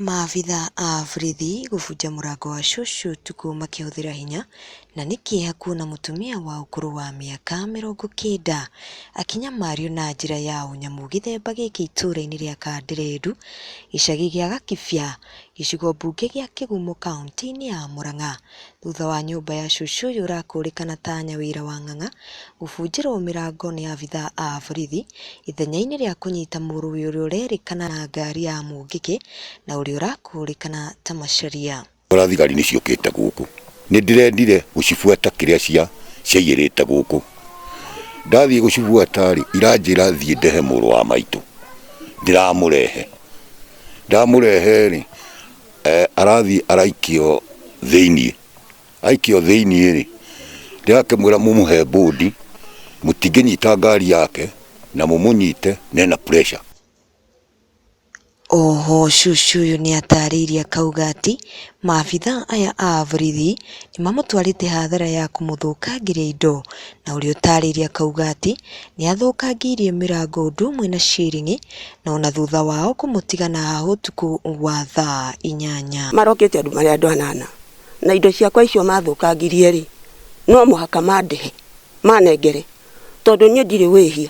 Maabitha a borithi gũbunja mũrango wa cũcũ ũtukũ makĩhũthĩra hinya, na nĩ kĩeha kuona mũtumia wa ũkũrũ wa mĩaka mĩrongo kenda akĩnyamario na njĩra ya ũnyamũ gĩthemba gĩkĩ itũra-inĩ rĩa Kanderendu, gĩcagi gĩa Gakibia, gĩcigo mbunge gĩa Kĩgumo kaũntĩ-inĩ ya Mũrang'a. thutha wa nyũmba ya cucu ũyũ ũrakũrĩkana ta Nyawĩra wa Ng'ang'a gũbunjĩrwo mĩrango nĩ abithaa a borithi ithenyainĩ rĩa kũnyita mũrũwi ũrĩa ũrerĩkana na ngari ya mũngĩkĩ na ũrĩa ũrakũrĩkana ta Macharia. Tora thigari nĩ ciũkĩte gũkũ. Nĩ ndĩrendire gũcibuata kĩrĩa cia ciaiyĩrĩte gũkũ. Ndathiĩ gũcibuata-rĩ, iranjĩra thiĩ ndehe mũrũ wa maitũ. Ndĩramũrehe. Ndamũrehe-rĩ, Eh, arathiĩ araikio thĩinĩ aikio thĩinĩ rĩ ndĩrakĩmwĩra mũmũhe bũndi mũtingĩnyita ngari yake na mũmũnyite nena pressure Oho cucu ũyũ nĩ atarĩirie akauga atĩ maabitha aya a borithi nĩ mamũtwarĩte hathara ya kũmũthũkangĩria indo na ũrĩa ũtarĩirie akauga atĩ nĩ athũkangĩirie mĩrango ũndũ ũmwe na ciringi na o na thuutha wao kũmũtiga na hahũ ũtukũ wa thaa inyanya. Marokĩtie andũ marĩ andũ anana, na indo ciakwa icio maathũkangirie-rĩ, no mũhaka mandĩhe, maanengere, tondũ niĩ ndirĩ wĩhia,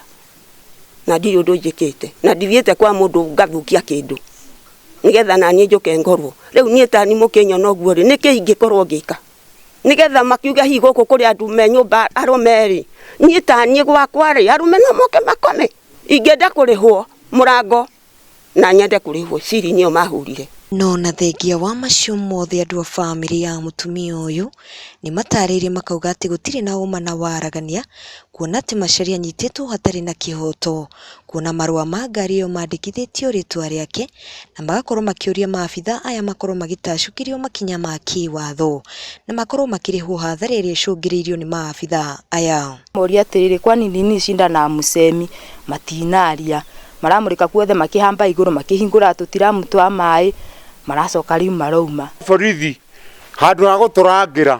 na ndirĩ ũndũ njĩkĩte, na ndithiĩte kwa mũndũ ngathũkia kĩndũ, nĩgeetha na niĩ njũke ngorwo. Rĩu niĩ ta niĩ mũkĩnyona ũguo-rĩ, nĩ kĩĩ ingĩkorwo ngĩka? nigetha makiuge hihi gũkũ kũrĩ andũ me nyũmba arũme rĩ niĩ ta niĩ gwakwa rĩ arũme no moke makome ingĩenda kũrĩhwo mũrango na nyende kũrĩhwo ciringi ĩyo mahũrire No na thengia wa macio mothe andũ a bamĩrĩ ya mũtumia ũyũ nĩ matarĩirie makauga atĩ gũtirĩ na ũma na waragania kuona atĩ Macharia anyitĩtwo hatarĩ na kĩhoto. kuona marũa ma ngari ĩyo mandĩkithĩtio rĩtwa rĩake na magakorwo makĩũria maabitha aya makorwo magĩtacũkĩrio makinya ma kĩwatho na makorwo makĩrĩhwo hathara ĩrĩa ĩcũngĩrĩirio nĩ maabitha aya. Moria atĩrĩrĩ, kwani nini Shinda na Mũcemi matinaria? Maramũrĩka kuothe makĩhamba igũrũ, makĩhingũra tũtiramu twa maĩ, maracoka rĩu marauma. Borithi handũ ha gũtũrangĩra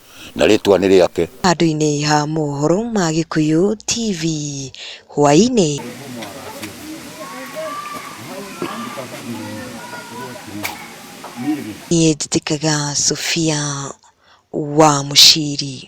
na rĩtwa nĩ rĩake. Handũ-inĩ ha mohoro ma Gĩkũyũ TV hwaĩ-inĩ. Niĩ njĩtĩkaga Sofia wa Mũciri.